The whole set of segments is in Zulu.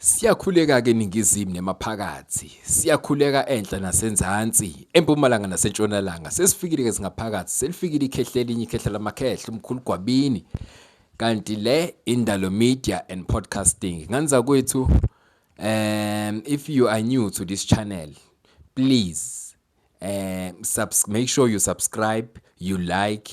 Siyakhuleka-ke eningizimu nemaphakathi, siyakhuleka enhla nasenzansi, empumalanga nasentshonalanga. Sesifikile-ke singaphakathi, selifikile ikhehla elinye, ikhehla lamakhehla, umkhulu Gwabini. Kanti le Indalo Media and Podcasting. Nganza kwethu, um, if you are new to this channel, please um, subs make sure you subscribe, you like,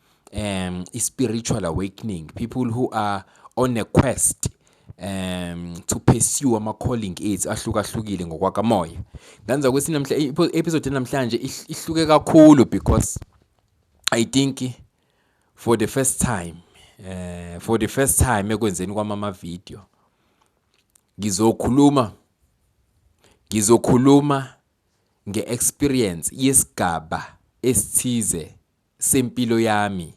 um i-spiritual awakening people who are on a quest um to pursue ama-calling ethu ahlukahlukile ngokwakamoya nganza ukuthi namhla i-episode namhlanje ihluke kakhulu because i think for the first time eh for the first time ekwenzeni kwami ama-video ngizokhuluma ngizokhuluma nge-experience yesigaba esithize sempilo yami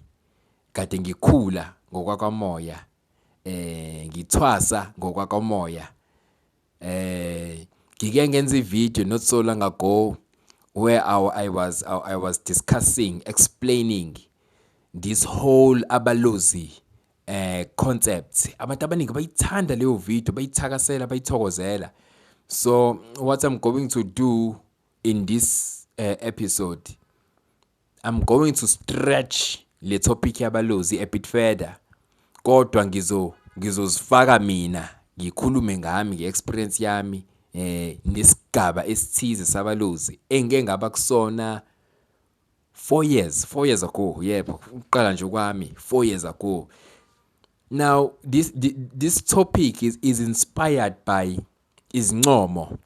kade ngikhula ngokwakwamoya eh ngithwasa ngokwakwamoya eh ngike ngenza ivideo not so long ago where I, I was I, I was discussing explaining this whole abalozi eh concept abantu abaningi bayithanda leyo video bayithakasela bayithokozela so what i'm going to do in this uh, episode I'm going to stretch le topic yabalozi a bit further kodwa ngizo ngizozifaka mina ngikhulume ngami nge-experience yami eh nesigaba esithize sabalozi engike ngaba kusona 4 years 4 years ago yebo ukuqala nje kwami 4 years ago now this this topic is, is inspired by izincomo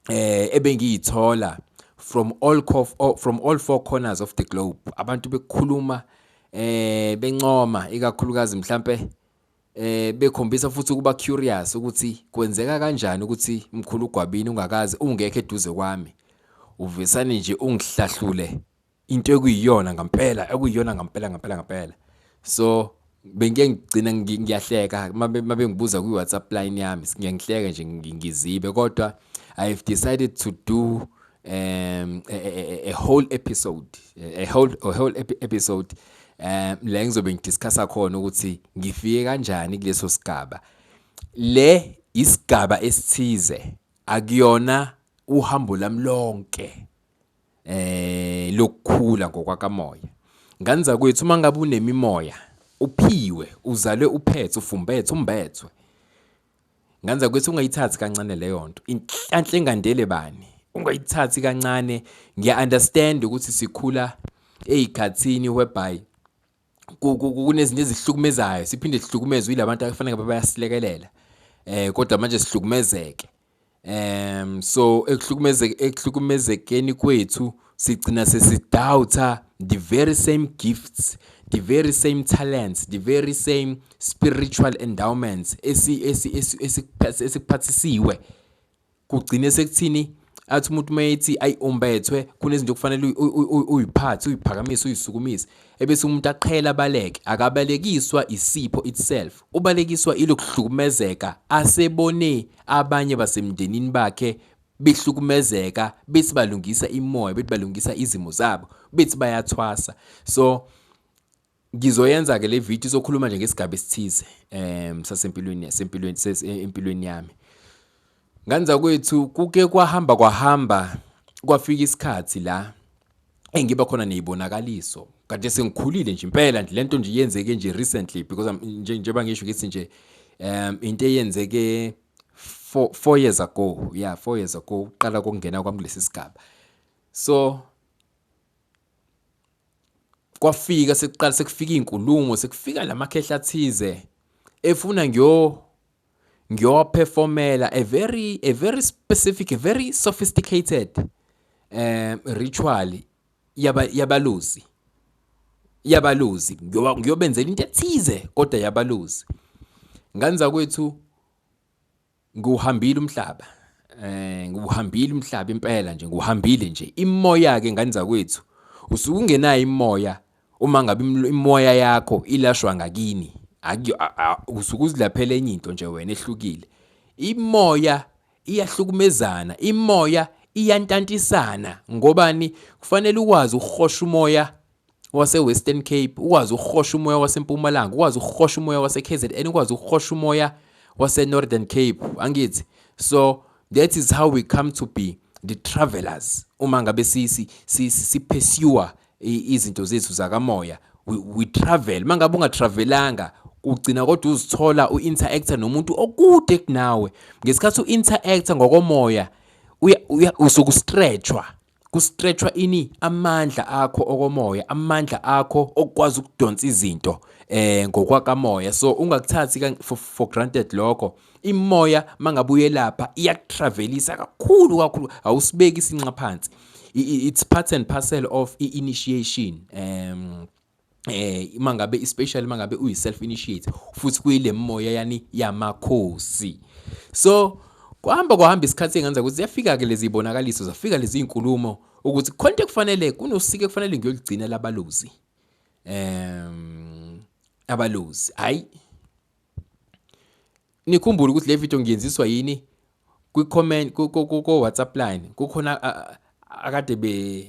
eh ebengiyithola from all oh, from all four corners of the globe abantu bekhuluma eh bencoma ikakhulukazi mhlambe eh bekhombisa futhi ukuba curious ukuthi kwenzeka kanjani ukuthi mkhulu ugwabini ungakazi ungekho eduze kwami uvesane nje ungihlahlule into ekuyiyona ngampela ekuyiyona ngampela ngampela ngampela so bengike ngigcina ngiyahleka mabengibuza kwi-whatsapp line yami ngiyangihleka nje ngizibe kodwa i have decided to do um, a, a, a whole episode a whole, a whole episode um la ngizobe ngidiscussa khona ukuthi ngifike kanjani kuleso sigaba le isigaba esithize akuyona uhambo lami lonke eh lokukhula ngokwakamoya nganza kwethu uma ngabe unemimoya uphiwe uzalwe uphethe ufumbethe umbethwe nganza kwethu ungayithathi kancane leyo nto inhlanhle engandele bani ungayithathi kancane ngiya understand ukuthi sikhula ezikhathini whereby kunezinto ezihlukumezayo siphinde sihlukumezwe yilabantu abafanele ngabe bayasilekelela eh kodwa manje sihlukumezeke um so ekuhlukumezeke ekuhlukumezekeni kwethu sigcina sesidoubter the very same gifts the very same talents the very same spiritual endowments esikuphathisiwe kugcine sekuthini athi umuntu uma ethi ayi umbethwe kunezinto okufanele uyiphathe uyiphakamise uyisukumise ebese umuntu aqhela abaleke akabalekiswa isipho itself ubalekiswa ilokuhlukumezeka asebone abanye basemndenini bakhe behlukumezeka bethi balungisa imoya bethi balungisa izimo zabo bethi bayathwasa so Ngizoyenza-ke le video izokhuluma nje ngesigaba esithize um sasempilweni yasempilweni eh, empilweni yami. Ngani zakwethu kuke kwahamba kwahamba kwafika isikhathi la engiba khona ney'bonakaliso kade sengikhulile nje impela nje le nto nje yenzeke nje recently because njengoba ngisho ngithi nje um into eyenzeke four, four years ago yeah four years ago uqala kokungena kwami kulesi sigaba so kwafika sekuqala sekufika izinkulumo sekufika lamakhehla athize efuna ngyo ngiyoperformela a very a very specific a very sophisticated um ritual yaba yabaluzi yabaluzi ngiyobenzela into ethize kodwa yabaluzi nganza kwethu ngiwuhambile umhlaba eh ngiwuhambile umhlaba impela nje ngiwuhambile nje imoya ke ngane zakwethu usuke ungenayo imoya uma ngabe imoya yakho ilashwa ngakini usuke uzilaphela enye into nje wena ehlukile imoya iyahlukumezana imoya iyantantisana ngobani kufanele ukwazi ukuhosha umoya waseWestern Cape ukwazi ukuhosha umoya waseMpumalanga ukwazi ukuhosha umoya waseKZN ukwazi ukuhosha umoya waseNorthern Cape angithi so that is how we come to be the travelers uma ngabe si si si, si pursue izinto zethu zakamoya we, we travel mangabe ungatravelanga ugcina kodwa uzithola u-interactor nomuntu okude kunawe ngesikhathi u-interactor ngokomoya usuke ustretchwa Kustretshwa ini amandla akho okomoya, amandla akho okukwazi ukudonsa izinto eh ngokwakamoya. So ungakuthathi for, for granted lokho. Imoya mangabuye lapha iyakutravelisa kakhulu kakhulu awusibeki isinqa phansi. It's part and parcel of i-initiation. Um eh uma ngabe especially uma ngabe uyi self initiate futhi kuyile moya yani yamakhosi so kuhamba kuhamba isikhathi engenza ukuthi ziyafika ke lezi bonakaliso zafika lezi inkulumo ukuthi khonto kufanele kunosike kufanele ngiyolugcina labaluzi em abaluzi hayi nikhumbule ukuthi le video ngiyenziswa yini kwi-comment ko-whatsapp line kukhona akade be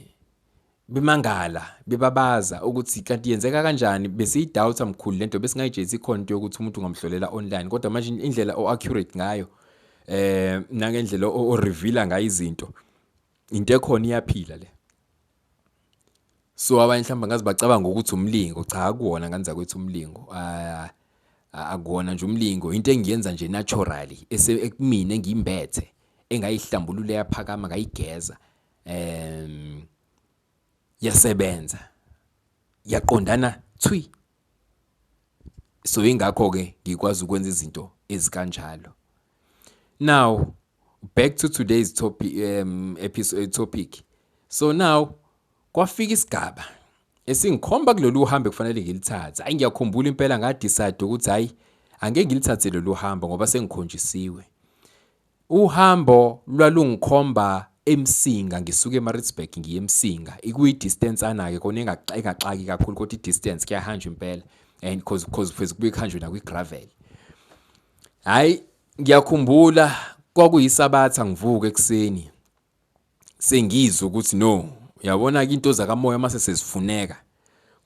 bemangala bebabaza ukuthi kanti yenzeka kanjani besiyidoubt mkhulu lento besingayijezi khona into yokuthi umuntu ungamhlolela online kodwa manje indlela o-accurate ngayo eh nangendlela o-reveala ngayo izinto into ekhona iyaphila le so abanye mhlawumbe ngaze bacabanga ukuthi umlingo cha akuwona ngane zakwethu umlingo ah, ah, akuwona nje umlingo into engiyenza nje naturally ekumina engimbethe engayihlambulula yaphakama ngayigeza em yasebenza yaqondana thwi so ingakho ke ngikwazi ukwenza izinto ezikanjalo now back to today's topic um episode eh, topic so now kwafika isigaba esingikhomba kulolu hambe kufanele ngilithathe ayi ngiyakhumbula impela ngadecide ukuthi hayi angeke ngilithathe lolu hambo ngoba sengikhonjisiwe Uhambo lwalungikhomba eMsinga ngisuke eMaritzburg ngiye eMsinga ikuyi-distance ana-ke kona engaxaki kakhulu kodwa i-distance kuyahanjwa impela and cause cause pheze kubuye kuhanjwe nakwi-gravel hhayi ngiyakhumbula kwakuyisabatha ngivuke ekuseni sengizwe ukuthi no uyabona-ke into zakamoya uma sesezifuneka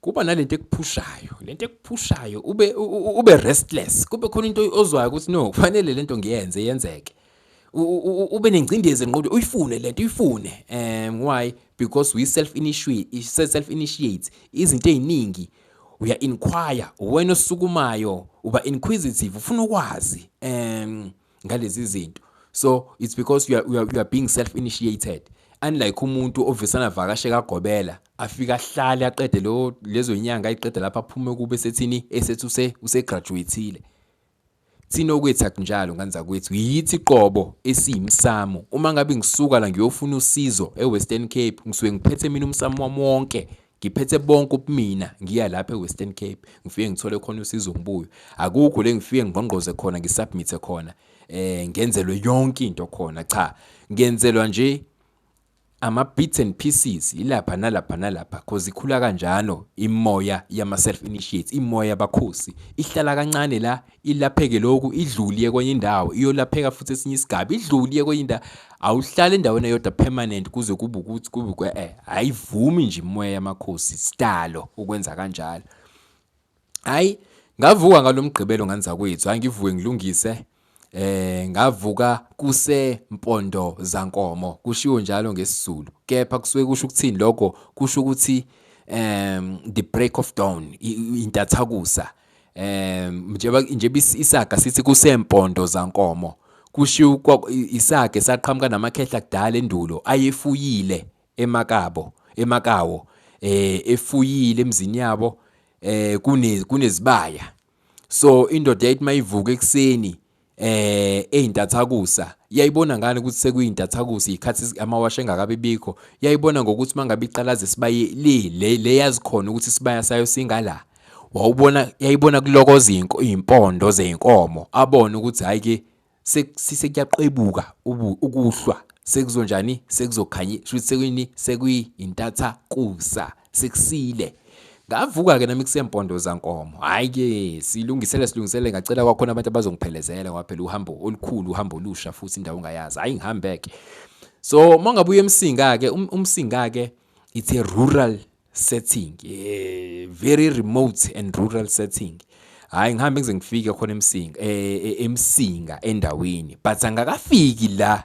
kuba nalento ekuphushayo lento ekuphushayo ube ube restless kube khona into ozwayo ukuthi no kufanele lento ngiyenze yenzeke ube nengcindezi enqondo uyifune lento uyifune um why because we self initiate self initiate izinto eziningi uya inquire wena osukumayo uba inquisitive ufuna ukwazi um ngalezi zinto so it's because you are, you are, you are being self initiated unlike umuntu ovisana vakashe kagobela afika ahlale aqede lo lezo nyanga ayiqede lapha aphume kube sethini esethi use usegraduatile thina okwethu akunjalo ngane zakwethu yithi qobo esiyimsamo uma ngabe ngisuka la ngiyofuna usizo eWestern Cape ngisuke ngiphethe mina umsamo wami wonke Ngiphethe bonke ubumina ngiya lapha eWestern Cape ngifike ngithole khona usizo ngibuye akukho le ngifike ngqongqoze khona ngisubmithe khona eh ngenzelwe yonke into khona cha ngenzelwa nje ama bits and pieces ilapha nalapha nalapha cause ikhula kanjalo imoya yama self initiates imoya yabakhosi ihlala kancane la ilapheke lokhu idlule iye kwenye indawo iyolapheka futhi esinye isigaba idlule iye kwenye indawo awuhlale endaweni eyodwa permanent kuze kube ukuthi kube kwe eh ayivumi nje imoya yamakhosi sidalo ukwenza kanjalo hayi ngavuka ngalomgqibelo nganza kwethu hayi ngivuke ngilungise eh ngavuka kuse mpondo zankomo kushiwo njalo ngesizulu kepha kusuke kusho ukuthini lokho kusho ukuthi um the break of dawn intathakusa um um njengoba njengoba is- isaga sithi kusempondo zankomo kushiwo kwa- i- isaga esaqhamuka namakhehla kudala endulo ayefuyile emakabo emakawo eh efuyile emzini yabo eh kune kunezibaya so indoda yayithi mayivuka ekuseni eh ezintathakusa yayibona ngani ukuthi sekuyintathakusa ikhathi amawasha engakabi bikho yayibona ngokuthi mangabe iqalaza sibaye le le yazi khona ukuthi sibaya sayo singala wawubona yayibona kulokoza impondo zeinkomo abone ukuthi hayi ke sekuyaqebuka ukuhlwa sekuzonjani sekuzokhanye shuthi sekuyini sekuyintatha kusa sekusile ngavuka ke nami kusempondo zankomo hayi ke silungisele silungisele ngacela kwakhona abantu abazongiphelezela ngoba phela uhambo olukhulu uhambo olusha futhi indawo ongayazi hayi ngihambe ke so mangabuya emsinga ke um, umsinga ke it's a rural setting a very remote and rural setting hayi ngihambe ngize ngifike khona emsinga e, e, emsinga endaweni but angakafiki la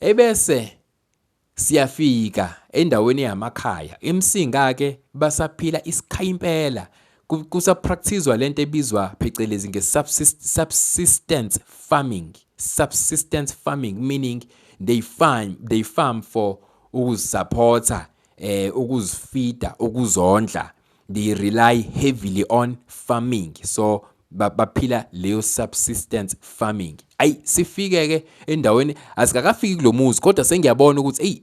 Ebese siyafika endaweni yamakhaya imsinga-ke basaphila isikhayi impela kusapractizwa lento ebizwa phecelezi nge-subsistence farming subsistence farming meaning they farm they farm for ukuzisapotha eh ukuzifida ukuzondla they rely heavily on farming so baphila leyo subsistence farming ayi sifike ke endaweni asikakafiki kulomuzi kodwa sengiyabona ukuthi hey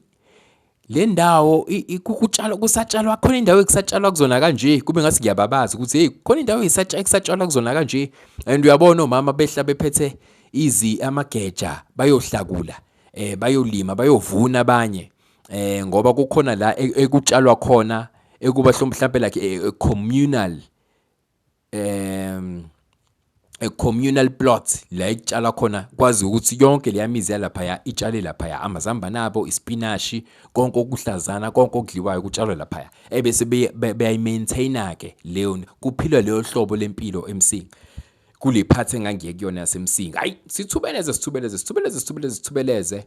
le ndawo kutshalwa kusatshalwa khona indawo ekusatshalwa kuzona kanje kube ngathi ngiyababaza ukuthi hey khona indawo ekusatshalwa kuzona kanje and uyabona omama behla bephethe izi amageja bayohlakula eh bayolima bayovuna abanye eh ngoba kukhona la e, ekutshalwa khona ekuba mhlawumbe like a, e, a communal um a communal plot la ekutshala khona kwazi ukuthi yonke leyamizi yalaphaya itshale laphaya amazambane abo ispinashi konke okuhlazana konke okudliwayo kutshalwe laphaya ebese beyayimaintaina ke leyo kuphilwa leyo hlobo lempilo emsinga kule part engangiye kuyona yasemsinga hayi sithubeleze sithubeleze sithubeleze sithubeleze sithubeleze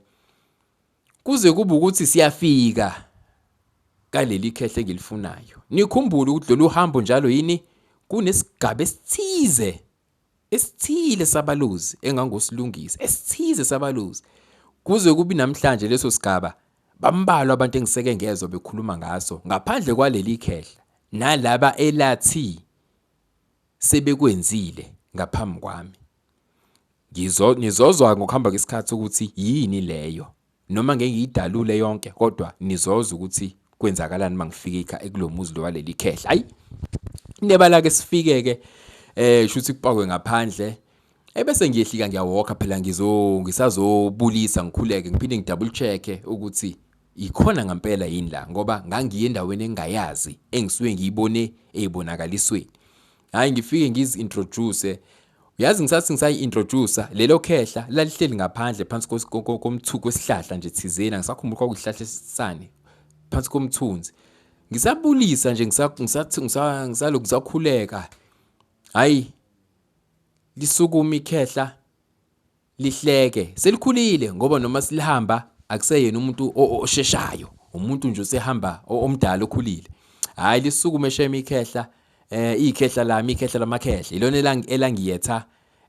Kuze kube ukuthi siyafika kaleli khehle engilifunayo. Nikhumbule ukuthi lolu hambo njalo yini kunesigaba esithize esithile sabaluzi engangosilungisa esithize sabaluzi kuze kubi namhlanje leso sigaba bambalwa abantu engiseke ngezwa bekhuluma ngaso ngaphandle kwaleli khehla nalaba elathi sebekwenzile ngaphambi kwami. Ngizo, nizozwa ngokuhamba kwesikhathi ukuthi yini leyo. Noma ngeke ngiyidalule yonke kodwa nizozwa ukuthi kwenzakalani uma ngifike ekulomuzi lo waleli khehla. Hayi. Nebala ke sifike ke eh shuthi kupakwe ngaphandle ebese ngiyehlika ngiyawalka phela ngizo ngisazobulisa ngikhuleke ngiphinde ngidouble check ukuthi Yikhona ngampela yini la ngoba ngangiye endaweni engingayazi engisuke ngiyibone eyibonakalisweni. Hayi ngifike ngizi-introduce Uyazi ngisathi ngisayi-introducer lelo khehla lalihleli ngaphandle phansi komthuku wesihlahla nje thizeni angisakhumbuli kwakuyihlahla esisane phansi komthunzi ngisabulisa nje ngisaloku ngisakhuleka hhayi lisukuma ikhehla lihleke selikhulile ngoba noma silihamba akuseyena umuntu osheshayo umuntu nje usehamba omdala okhulile hayi lisukume shema ikhehla eh ikhehla lami ikhehla lamakhehla ilona elangiyetha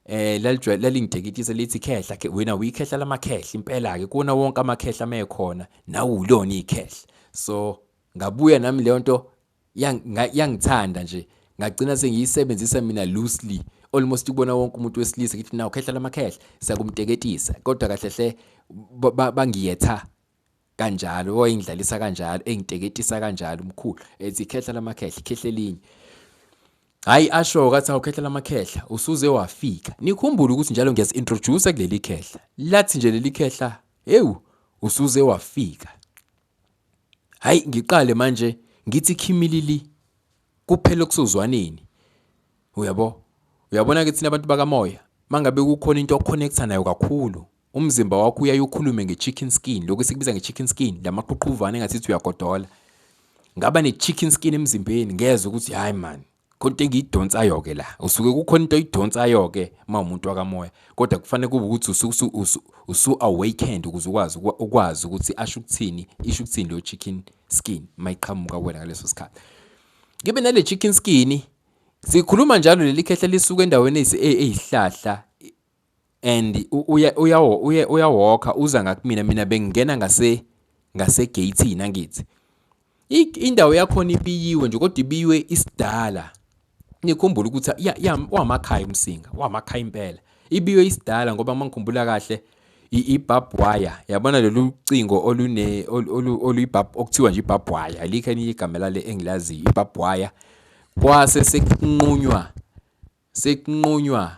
eh lalijwayele lalingidekitisa lithi khehla ke wena uyikhehla lamakhehla impela ke kuona wonke amakhehla mekhona nawu ulona ikhehla so ngabuya nami leyo nto yangithanda nje ngagcina sengiyisebenzisa mina loosely almost kubona wonke umuntu wesilisa ngithi nawu khehla lamakhehla siyakumteketisa kodwa kahle hle bangiyetha kanjalo wayengidlalisa kanjalo engiteketisa kanjalo umkhulu ethi khehla lamakhehla khehla elinye hayi asho kathi awukhehla lamakhehla usuze wafika nikhumbule ukuthi njalo ngiyazi introduce kuleli khehla lathi nje leli khehla ewu usuze wafika Hayi ngiqale manje ngithi khimilili kuphela okusozwaneni. Uyabo? Uyabona ke thina abantu bakamoya mangabe kukhona into oconnecta nayo kakhulu umzimba wakho uyaye ukhulume nge-chicken skin lokhu esikubiza nge-chicken skin la maqhuqhuvane engathi uyagodola ngaba ne-chicken skin emzimbeni ngezwe ukuthi hayi mani khonto engiyidonsayo-ke la usuke kukhona into oyidonsayo-ke uma umuntu wakamoya kodwa kufanele kube ukuthi usu-awakened ukuze ukwazi ukwazi ukuthi asho ukuthini isho ukuthini leyo chicken skin uma iqhamuka kuwena ngaleso sikhathi ngibe nale chicken skin sikhuluma njalo leli khehla lisuke endaweni eyihlahla and uya uya uya uyawokha uza ngakumina mina bengingena ngase ngase gate nangithi indawo yakhona ibiyiwe nje kodwa ibiyiwe isidala nikhumbula ukuthi ya ya wamakhaya umsinga wamakhaya impela ibiyiwe isidala ngoba mangikhumbula kahle i-barbed wire yabona lolu cingo olune oluyibab okuthiwa nje i-barbed wire alikho elinye igama lale engilaziyo i-barbed wire kwase sekunqunywa sekunqunywa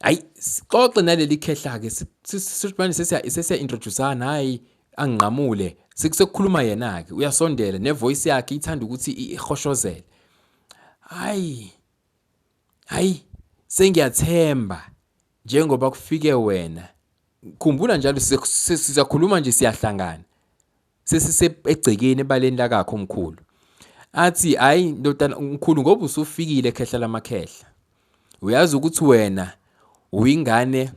hayi sixoxe naleli khehla-ke sisibane sesiya-introducana hhayi angingqamule sekukhuluma yena-ke uyasondela nevoyisi yakhe ithanda ukuthi ihoshozele hhayi hhayi sengiyathemba njengoba kufike wena khumbula njalo sizakhuluma nje siyahlangana sesise egcekeni ebaleni lakakho umkhulu athi hayi ndodana umkhulu ngoba usufikile khehla lamakhehla uyazi ukuthi wena uyingane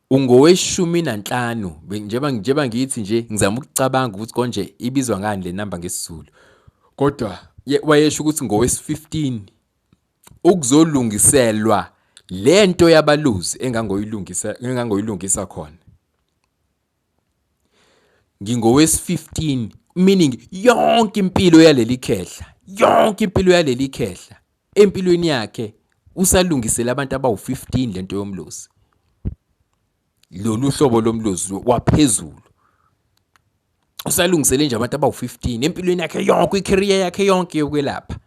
ungoweshumi nanhlanu njengoba njengoba ngithi nje ngizama ukucabanga ukuthi konje ibizwa ngani le namba ngesizulu kodwa wayesho ukuthi ngowesi-15 ukuzolungiselwa lento yabaluzi engangoyilungisa engangoyilungisa khona ngingowesi-15 meaning yonke impilo yaleli khehla yonke impilo yaleli khehla empilweni yakhe usalungisela abantu abawu-15 lento yomlozi lolu hlobo lomlozi waphezulu usalungisele nje abantu abawu-15 empilweni yakhe yonke i-career yakhe yonke yokwelapha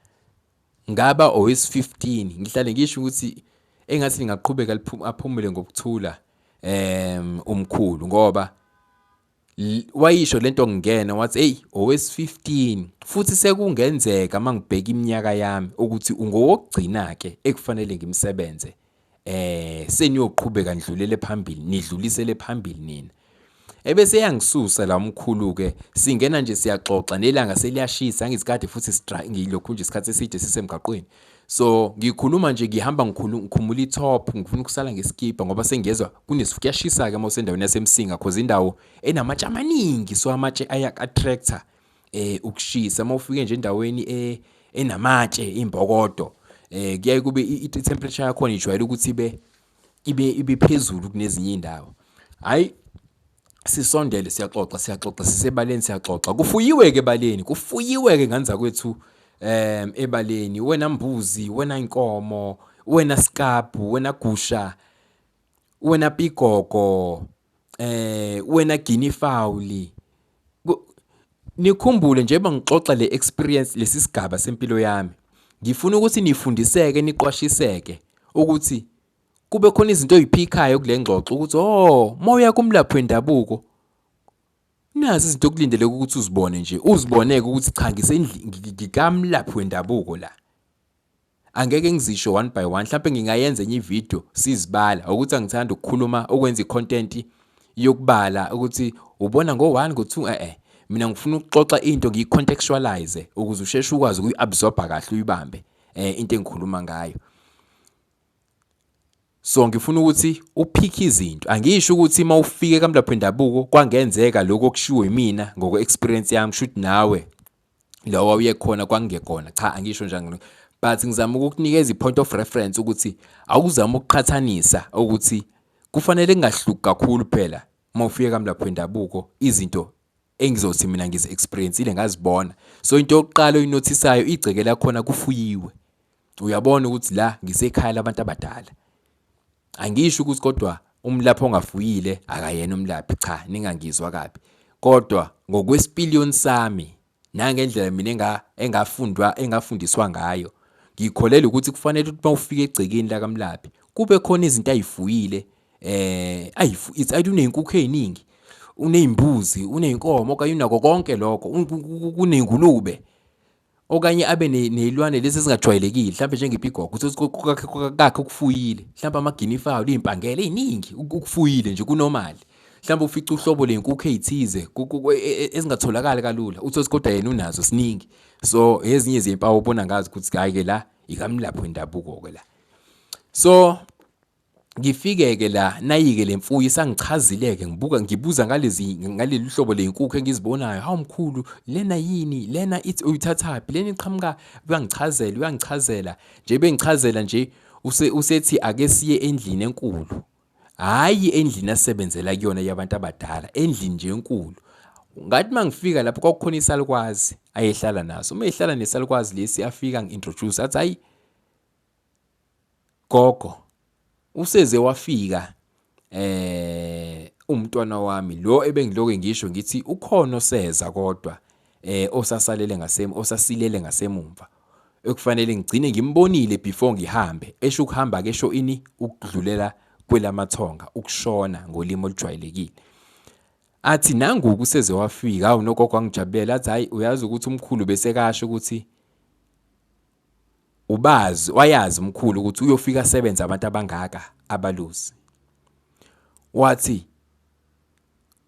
Ngaba owesi-15 ngihlale ngisho ukuthi engathi lingaqhubeka aphumule ngokuthula um umkhulu ngoba wayisho lento ngingena wathi hey owesi-15 futhi sekungenzeka mangibheka iminyaka yami ukuthi ungowokugcina ke ekufanele ngimsebenze eh seniyoqhubeka nidlulele phambili nidlulisele phambili nina ebese yangisusa la umkhulu ke singena nje siyaxoxa nelanga seliyashisa ngizikade futhi sidrive ngilokhu nje isikhathi eside sisemgaqweni so ngikhuluma nje ngihamba ngikhumula itop ngifuna ukusala ngesikipa ngoba sengiyezwa kunesifu kuyashisa ke uma usendaweni yasemsinga cause indawo enamatshe amaningi so amatshe aya attractor eh ukushisa uma ufike nje endaweni eh, enamatshe imbokodo eh kuyaye kube i-temperature yakhona ijwayele ukuthi ibe ibe ibe phezulu kunezinye indawo hayi sisondele siyaxoxa siyaxoxa sisebaleni siyaxoxa kufuyiwe ke baleni kufuyiwe ke nganza kwethu em ebaleni wena mbuzi wena inkomo wena sikabu wena gusha wena pigogo eh wena gini fauli nikhumbule njengoba ngixoxa le experience lesi sigaba sempilo yami ngifuna ukuthi nifundiseke niqwashiseke ukuthi kube khona izinto oyiphikhayo kule ngxoxo ukuthi oh moya kumlaphi wendabuko nazi izinto okulindeleke ukuthi uzibone nje uziboneke ukuthi cha ngikamlaphi wendabuko la Angeke ngizisho one by one mhlawumbe ngingayenza enye ivideo sizibala ukuthi angithanda ukukhuluma okwenza icontent yokubala ukuthi ubona ngo-one ngo-two e-e mina ngifuna ukuxoxa into ngiyi-contextualize ukuze usheshe ukwazi ukuyi-absorba kahle uyibambe um into engikhuluma ngayo so ngifuna ukuthi uphikhe izinto angisho ukuthi uma ufike kamlapho wendabuko kwangenzeka lokho okushiwo yimina ngokwe-experience yami shuthi nawe lo wawuyekhona kwakungekona cha angisho njani but ngizama ukukunikeza i-point of reference ukuthi awuzama ukuqhathanisa ukuthi kufanele kungahluki kakhulu phela uma ufika kamlapho wendabuko izinto engizothi mina ngizi-experience-ile ngazibona so into yokuqala oyinothisayo igceke lakhona kufuyiwe uyabona ukuthi la ngisekhaya labantu abadala Angisho ukuthi kodwa umlaphi ongafuyile akayena umlaphi cha ningangizwa kabi kodwa ngokwesipiliyoni sami nangendlela mina engafundwa engafundiswa ngayo ngikholelwa ukuthi kufanele ukuthi mawufika egcekeni lakamlaphi kube khona izinto ayifuyile eh ayifu it's i don't inkukhu eziningi unezimbuzi unenkomo okanye unako konke lokho kunengulube okanye abe neyilwane lezi ezingajwayelekile mhlawumbe njengepigogo kakhe ukufuyile mhlawumbe amaginifayo liyimpangela eyiningi ukufuyile nje kunomali mhlawumbe ufica uhlobo lenkukhu eyithize e, e, ezingatholakali kalula uthi kodwa yena unazo siningi so ezinye zempawu ubona ngazi ukuthi hayi ke la ikamlapho wendabuko ke la so Ngifike-ke la, nayike le mfuyo isangichazile-ke, ngibuka ngibuza ngalezi ngaleli hlobo ley'nkukhu engizibonayo. Hawu mkhulu, lena yini? Lena ithi uyithathaphi? Lena iqhamuka uyangichazela, uyangichazela. Nje bengichazela nje, use usethi ake siye endlini enkulu. Hhayi endlini asebenzela kuyona yabantu abadala, endlini nje enkulu. Ngathi uma ngifika lapho kwakukhona isalukwazi ayehlala naso. Uma ehlala nesalukwazi lesi afika ngi-introduce athi hhayi gogo useze wafika eh umntwana wami lo ebengiloke ngisho ngithi ukhona oseza kodwa eh osasalele ngasem osasilele ngasemumva ekufanele ngigcine ngimbonile before ngihambe esho ukuhamba ke sho ini ukudlulela kwelamathonga ukushona ngolimi olujwayelekile athi nangu kuseze wafika awunogogo angijabulela athi hayi uyazi ukuthi umkhulu besekasho ukuthi Ubazi, wayazi umkhulu ukuthi uyofika asebenze abantu abangaka abaluzi. Wathi,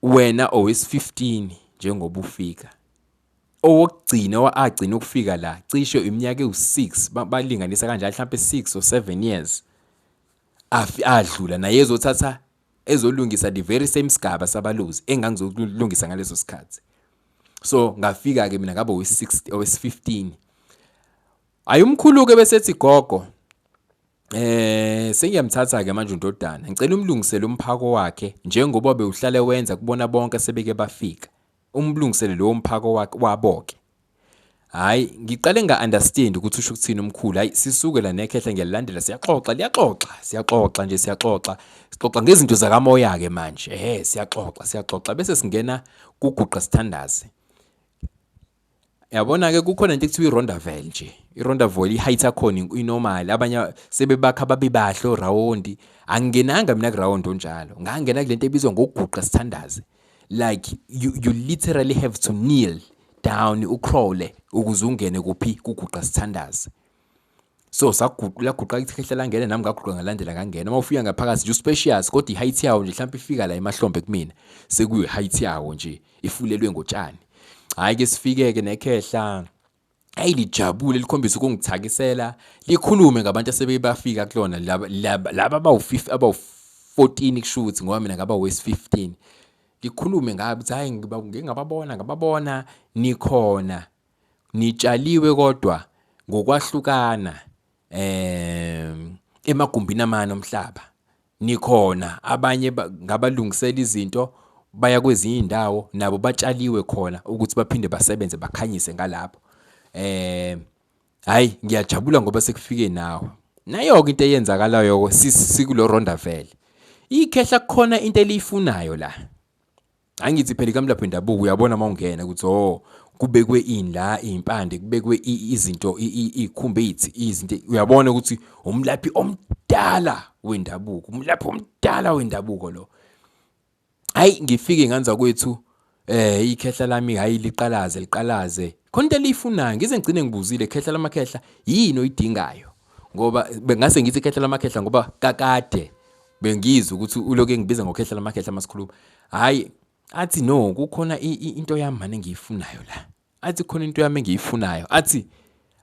wena owesi-15 njengoba ufika. Owokugcina agcina ukufika la, cishe iminyaka ewu-6, balinganisa kanjalo mhlampe 6 or 7 years. Afi adlula naye ezothatha ezolungisa the very same sigaba sabaluzi engangizokulungisa ngaleso sikhathi so ngafika ke mina ngabe owe-16 owe-15 hayi umkhulu-ke besethi gogo Eh sengiyamthatha ke manje uNdodana. Ngicela umlungisele umphako wakhe njengoba bewuhlale wenza kubona bonke sebeke bafika. Umlungisele lowo mphako wakhe waboke. Hayi, ngiqale nga-understand ukuthi usho ukuthini umkhulu. Hayi, sisuke la nekhehla ngiyalilandela, siyaxoxa, liyaxoxa, siyaxoxa nje, siyaxoxa. Sixoxa ngezinto zakamoya-ke manje. Ehhe, siyaxoxa, siyaxoxa. Bese singena kuguqa sithandaze. yabona ke kukhona into ekuthiwa i-rondavel nje i-rondavel i-height yakhona inormal abanye sebebakha babe bahle orawundi angingenanga mina kurawundi onjalo ngangena kule nto ebizwa ngokuguqa sithandaze like you, you literally have to kneel down ucrawle ukuze ungene kuphi kuguqa sithandaze so laguqa ikhehla langena nami ngaguqa ngalandela ngangena uma ufika ngaphakathi nje uspecious kodwa i-height yawo nje mhlawumbe ifika la emahlombe kumina sekuyi-height yawo nje ifulelwe ngotshani hhayi ke sifike-ke nekhehla ayi lijabule likhombisa ukungithakisela likhulume ngabantu asebebafika kulona laba abawu-14 kusho ukuthi ngoba mina ngaba wesi-15 likhulume ngabi ukuthi hhayi ngingababona ngababona nikhona Ngitshaliwe kodwa ngokwahlukana um emagumbini amane omhlaba. Nikhona abanye ngabalungisela izinto baya kwezinye izindawo nabo batshaliwe khona ukuthi baphinde basebenze bakhanyise ngalapho. Eh hayi ngiyajabula ngoba sekufike nawe. Nayo-ke into eyenzakalayo sikulorondavele. Ikhehla kukhona into eliyifunayo la. Hayi ngithi phela ikamlaphi wendabuko uyabona uma ungena ukuthi oh kubekwe ini la izimpande kubekwe izinto ikhumbe ithi izinto uyabona ukuthi umlaphi omdala wendabuko umlaphi omdala wendabuko lo hayi ngifike nganza kwethu eh ikhehla lami hayi liqalaze liqalaze khona into eliyifunayo ngize ngigcine ngibuzile khehla lamakhehla yini oyidingayo ngoba bengase ngithi ikhehla lamakhehla ngoba kakade bengizwe ukuthi uloke ngibiza ngokhehla lamakhehla masikhuluma hayi athi no kukhona into yami mane ngiyifunayo la athi khona into yami engiyifunayo athi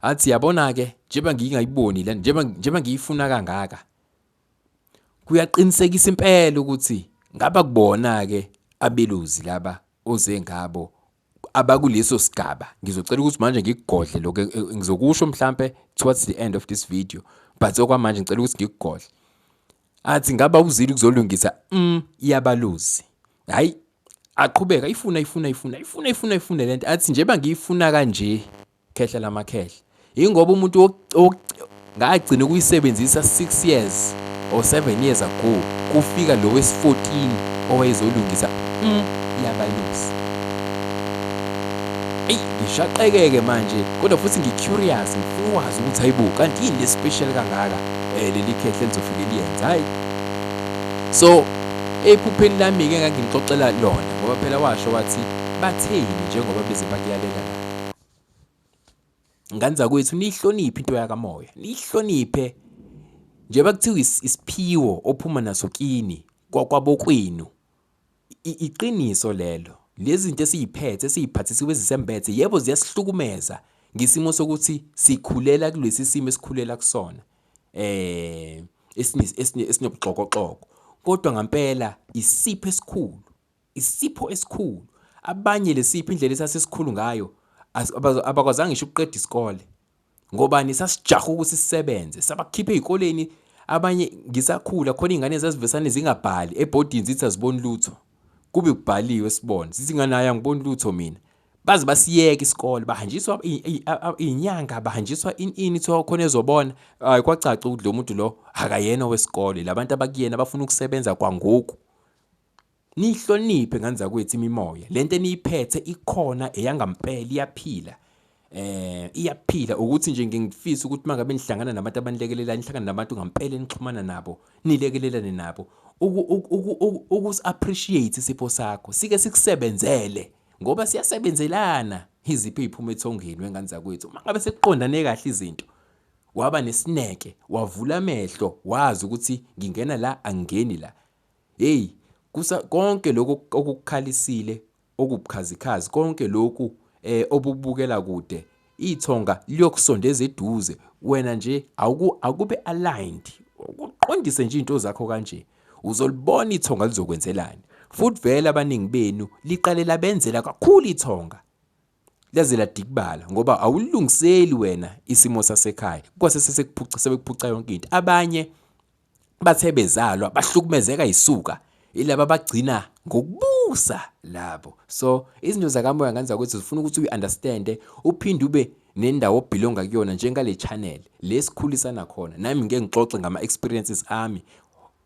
athi yabona ke njengoba ngingayiboni la njengoba njengoba ngiyifuna kangaka kuyaqinisekisa impela ukuthi ngaba kubona ke abeluzi laba oze ngabo abakuleso sigaba ngizocela ukuthi manje ngikugodle lokho ngizokusho mhlampe towards the end of this video but okwamanje ngicela ukuthi ngikugodle athi ngaba uzile ukuzolungisa mm iyabaluzi hayi aqhubeka ifuna ifuna ifuna ifuna ifuna ifuna lento athi njengoba ngiyifuna kanje Khehla lamakhehla. Yingoba umuntu ngagcina ukuyisebenzisa 6 years or 7 years ago kufika lo wesi-14 owayezolungisa mm, yabalusi eyi ngishaqekeke manje kodwa futhi ngi-curious ngifuna ukwazi ukuthi hayibo kanti yini le-special kangaka um leli khehle lizofike liyenza hhayi so ephupheni lami-ke ngangimxoxela lona ngoba phela washo wathi batheni njengoba beze bakuyalela ngane zakwethu niyihloniphe into yakamoya niyihloniphe njengoba kuthiwa isiphiwo ophuma naso kini kwabokwenu iqiniso lelo lezi zinto esiyiphethe esiyiphathisiwe ezisembethe yebo ziyasihlukumeza ngesimo sokuthi sikhulela kulesi simo esikhulela kusona eh esinobuxokoxoko kodwa ngempela isipho esikhulu Isipho esikhulu. Abanye lesipho indlela esasesikhulu ngayo abakwazanga ngisho ukuqeda isikole. Ngobani sasijaha ukuthi sisebenze, sabakhipha ezikoleni abanye ngisakhula khona izingane zazivesane zingabhali ebhodini zithi aziboni lutho. Kube kubhaliwe sibone, sithi ingane ayi angiboni lutho mina. Baze basiyeke isikole, bahanjiswa izinyanga, bahanjiswa ini ini kuthiwa khona ezobona. Hayi kwacaca ukuthi lo muntu lo akayena owesikole, labantu abakuyena bafuna ukusebenza kwangoku. Niyihloniphe ngane zakwethu imimoya. Le nto eniyiphethe ikhona eyangampela iyaphila. Eh iyaphila ukuthi nje ngingifisa ukuthi mangabe nihlangana nabantu abanilekelela nihlangana nabantu ngampela enixhumana nabo nilekelelane nabo ukusi appreciate isipho sakho sike sikusebenzele ngoba siyasebenzelana iziphi iziphuma ethongeni wengane zakwethu mangabe sekuqondane kahle izinto waba nesineke wavula amehlo wazi ukuthi ngingena la angeni la Heyi, kusa, konke lokhu okukukhalisile, okubukhazikhazi, konke lokhu eh, obukubukela kude, ithonga liyokusondeza eduze, wena nje awuku, akube aligned, ukuqondise nje izinto zakho kanje. Uzolibona ithonga lizokwenzelani. Futhi vele abaningi benu liqale labenzela kakhulu ithonga. laze ladikibala ngoba awulungiseli wena isimo sasekhaya kwase sesekuphuca sebekuphuca yonke into abanye bathe bezalwa bahlukumezeka isuka ilaba bagcina ngokubusa labo so izinto zakamoya ngani zakwethu zifuna ukuthi uyi-understande uphinde ube nendawo obhilonga kuyona njengale channel lesikhulisana khona nami ngeke ngixoxe ngama-experiences ami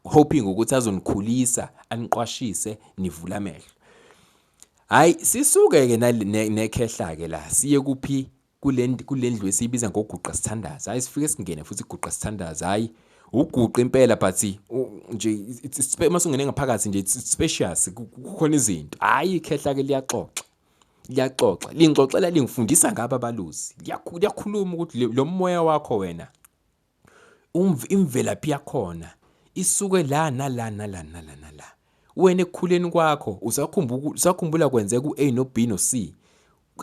hoping ukuthi azonikhulisa aniqwashise nivule amehlo Hayi sisuke ke nekhehla ke la siye kuphi kulendlu esiyibiza ngoguqa sithandaza hayi sifike singene futhi guqa sithandaza hayi uguqa impela but nje uma sungene ngaphakathi nje it's spacious kukhona izinto hayi ikhehla ke liyaxoxa liyaxoxa lingixoxela lingifundisa ngaba baluzi liyakhuluma ukuthi lo moya wakho wena imvelaphi yakhona isuke la nala nala nala nala wena ekukhuleni kwakho usakhumbula kwenzeka u-a no-b no-c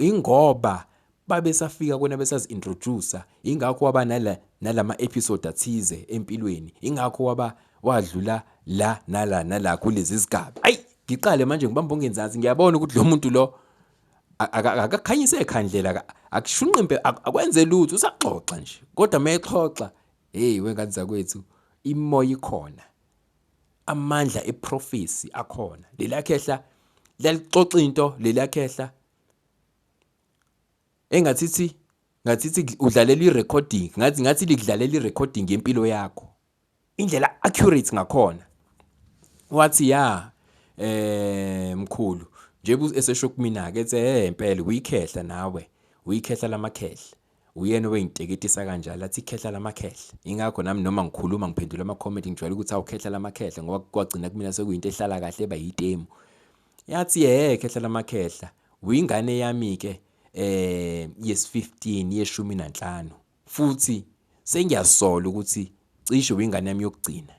ingoba babesafika kwena besazi-introducer ingakho waba nala nalama-episode athize empilweni ingakho waba wadlula la nala nala kulezi zigaba ayi ngiqale manje ngibamba ongenzansi ngiyabona ukuthi lo muntu lo akakhanyise ekhandlela akushunqimpe akwenze lutho usaxoxa nje kodwa uma exoxa heyi wengane zakwethu imoya ikhona amandla eprofesi akhona lelakhehla lalixoxa into lelakhehla engathithi ngathithi udlalela irecording ngathi ngathi likudlalela irecording yempilo yakho indlela accurate ngakhona wathi ya eh mkhulu njengoba esesho kumina ke ethe hey impela uyikhehla nawe uyikhehla lamakhehla uyena obeyinteketisa kanjalo athi ikhehla lamakhehla ingakho nami noma ngikhuluma ngiphendula ama comment ngijwayele ukuthi awukhehla lamakhehla ngoba kwagcina kumina sekuyinto ehlala kahle eba yitemu yathi hey khehla lamakhehla uyingane yami ke eh yes 15 yeshumi nanhlanu Futhi sengiyasola ukuthi cishe wingane yami yokugcina.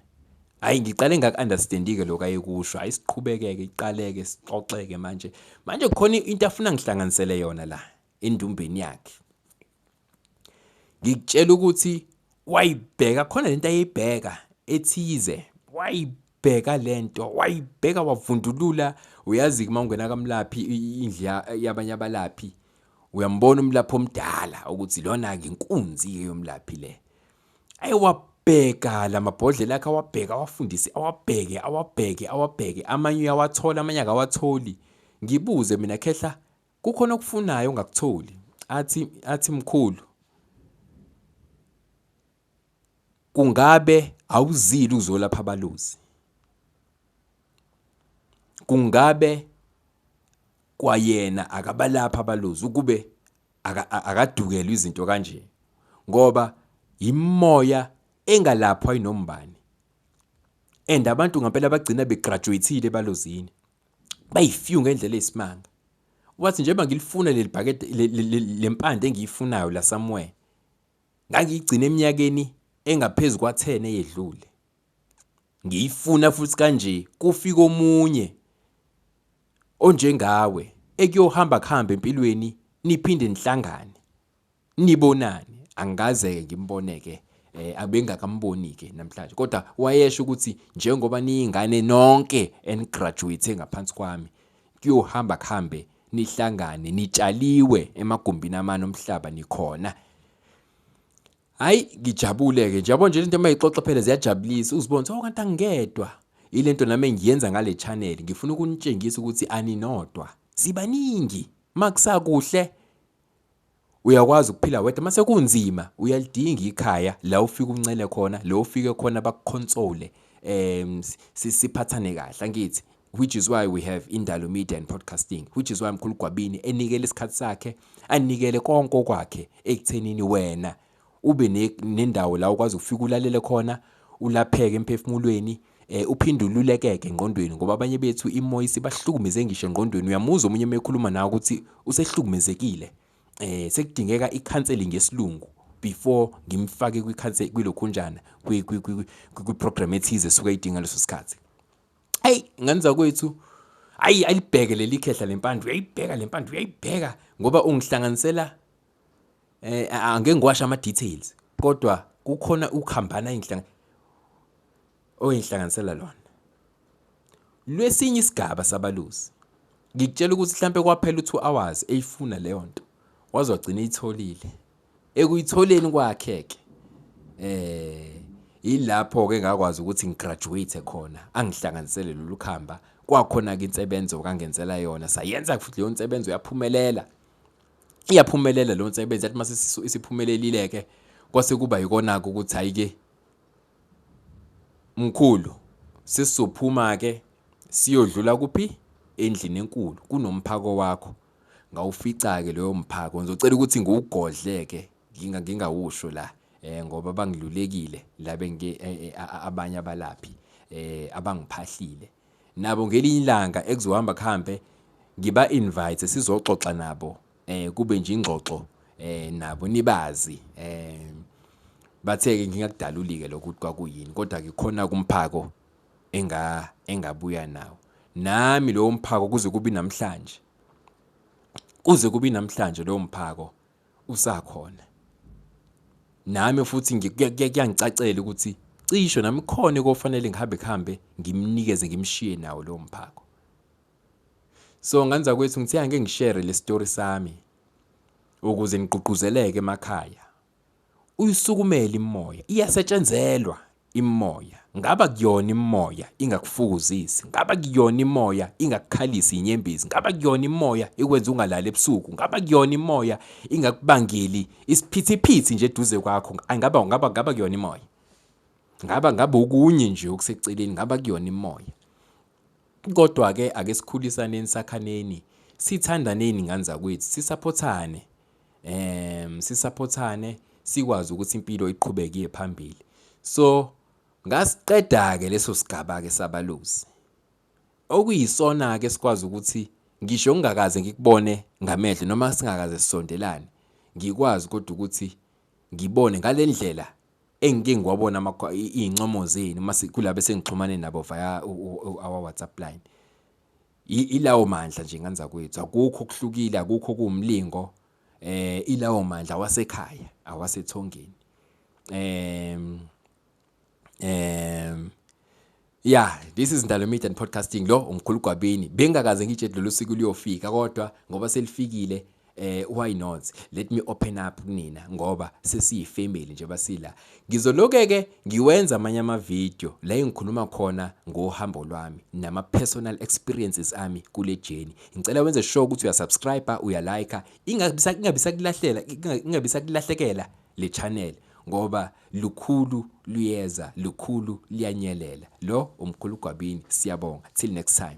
Hhayi ngiqale ngaku-understand-ke lokhu ayekusho, hhayi siqhubekeke iqaleke sixoxeke manje. Manje khona into afuna ngihlanganisele yona la endumbeni yakhe. Ngikutshela ukuthi wayibheka khona lento ayeyibheka ethize, wayibheka bheka lento wayibheka wavundulula uyazi uma ungena kamlaphi indle yabanye abalaphi uyambona umlaphi omdala ukuthi lona ke inkunzi yomlaphi le ayi wabheka lamabhodlela akhe awabheka awafundisi awabheke awabheke awabheke amanye uyawathola amanye akawatholi ngibuze mina khehla kukhona okufunayo ongakutholi athi athi mkhulu Kungabe awuzile ukuzolapha abalozi? Kungabe kwayena akabalapha abalozi ukube akadukelwe izinto kanje ngoba yimoya engalaphwa inombani and abantu ngempela bagcina begraduatile ebalozini bayifew ngendlela eyisimanga wathi njengoba ngilifuna leli bhakede lempande engiyifunayo la somewhere Ngangiyigcine eminyakeni engaphezu kwa-10 eyedlule. Ngiyifuna futhi kanje kufika omunye onjengawe ekuyohamba kuhambe empilweni niphinde nihlangane. Nibonane, angikaze-ke ngimbone-ke eh abengakamboni-ke namhlanje kodwa wayesho ukuthi njengoba niyingane nonke enigraduate ngaphansi kwami kuyohamba kuhambe nihlangane nitshaliwe emagumbini amane omhlaba nikhona hayi ngijabule-ke njabo nje lento uma ixoxa phela ziyajabulisa uzibone ukuthi oh kanti angingedwa ilento nami engiyenza ngale channel ngifuna ukunitshengisa ukuthi aninodwa sibaningi makusakuhle uyakwazi ukuphila wedwa mase kunzima uyalidinga ikhaya la ufika uncele khona la ufike khona bakuconsole um siphathane kahle angithi which is why we have indalo media and podcasting which is why mkhulu gwabini enikele isikhathi sakhe anikele konke okwakhe ekuthenini wena ube nendawo la ukwazi ukufika ulalele khona ulapheke emphefumulweni eh uphinde ululekeke engqondweni ngoba abanye bethu imoya isibahlukumeze ngisho engqondweni uyamuzwa omunye mekhuluma nawe ukuthi usehlukumezekile eh sekudingeka i-counseling yesilungu before ngimfake kwi-counseling kwilokhunjana kwi-program ethize esuke idinga leso sikhathi hey ngenza kwethu ayi ayibheke leli khehla lempandla uyayibheka lempandla uyayibheka ngoba ungihlanganisela eh angeke ngiwasha ama details kodwa kukhona ukuhambana inhlanga oyinhlanganisela lona lwesinye isigaba sabalusi ngikutshela ukuthi mhlambe kwaphela u2 hours eyifuna leyo nto wazogcina itholile ekuyitholeni kwakhe ke eh ilapho ke ngakwazi ukuthi ngigraduate khona angihlanganisele lolu khamba kwakhona ke insebenzo kangenzela yona sayenza futhi leyo nsebenzo yaphumelela iyaphumelela lo nsebenzi athi mase isiphumelelile ke kwase kuba yikona ke ukuthi hayi ke mkhulu sisizophuma ke siyodlula kuphi endlini enkulu kunomphako wakho ngawufica ke leyo mphako ngizocela ukuthi ngiwugodle ke nginga ngingawusho la eh ngoba bangilulekile la bengi eh, eh, abanye abalaphi eh abangiphahlile nabo ngelinye ilanga ekuzohamba kuhambe ngiba invite sizoxoxa nabo eh kube nje ingxoxo eh nabo nibazi eh bathe ke ngingakudaluli ke lokuthi kwakuyini kodwa ke khona kumphako enga engabuya nawo nami lowo mphako kuze kubi namhlanje kuze kubi namhlanje lowo mphako usakhona nami futhi kuyangicacela ukuthi cisho nami khona kofanele ngihambe kuhambe ngimnikeze ngimshiye nawo lowo mphako so nganza kwethu ngithe angeke ngishere le story sami ukuze nigqugquzeleke emakhaya Uyisukumela imimoya, iyasetshenzelwa imimoya, ngaba kuyona imimoya ingakufukuzisi, ngaba kuyona imimoya ingakukhalisi inyembezi, ngaba kuyona imimoya ikwenza ungalali ebusuku, ngaba kuyona imimoya ingakubangeli isiphithiphithi nje eduze kwakho, ngaba ngaba ngaba kuyona imimoya. Ngaba ngaba okunye nje okuseceleni, ngaba kuyona imimoya. Kodwa ke ake sikhulisaneni sakhaneni, sithandaneni ngane zakwethu, sisaphothane um sisaphothane sikwazi ukuthi impilo iqhubeke iye phambili so ngasiqeda-ke leso sigaba-ke sabaluzi okuyisona-ke sikwazi ukuthi ngisho ngingakaze ngikubone ngamehlo noma singakaze sisondelane ngikwazi kodwa ukuthi ngibone ngale ndlela engike ngiwabona iy'ncomo zenu uma kulaba esengixhumane nabo via our whatsapp line Ilawo mandla nje ngane zakwethu, akukho okuhlukile, akukho okuwumlingo. Eh ilawo mandla awasekhaya, awasethongeni. Em em Yeah, this is Ndalo Media and Podcasting lo umkhulu Gwabini. Bengakaze ngitshe lolu siku luyofika kodwa ngoba selifikile eh why not let me open up kunina ngoba sesiyi family nje basila ngizoloke ke ngiwenza amanye ama video la engikhuluma khona ngohambo lwami nama personal experiences ami kule journey ngicela wenze sure ukuthi uya subscribe uya like ingabisa ingabisa kulahlela ingabisa kulahlekela le channel ngoba lukhulu luyeza lukhulu liyanyelela lo umkhulu gwabini siyabonga till next time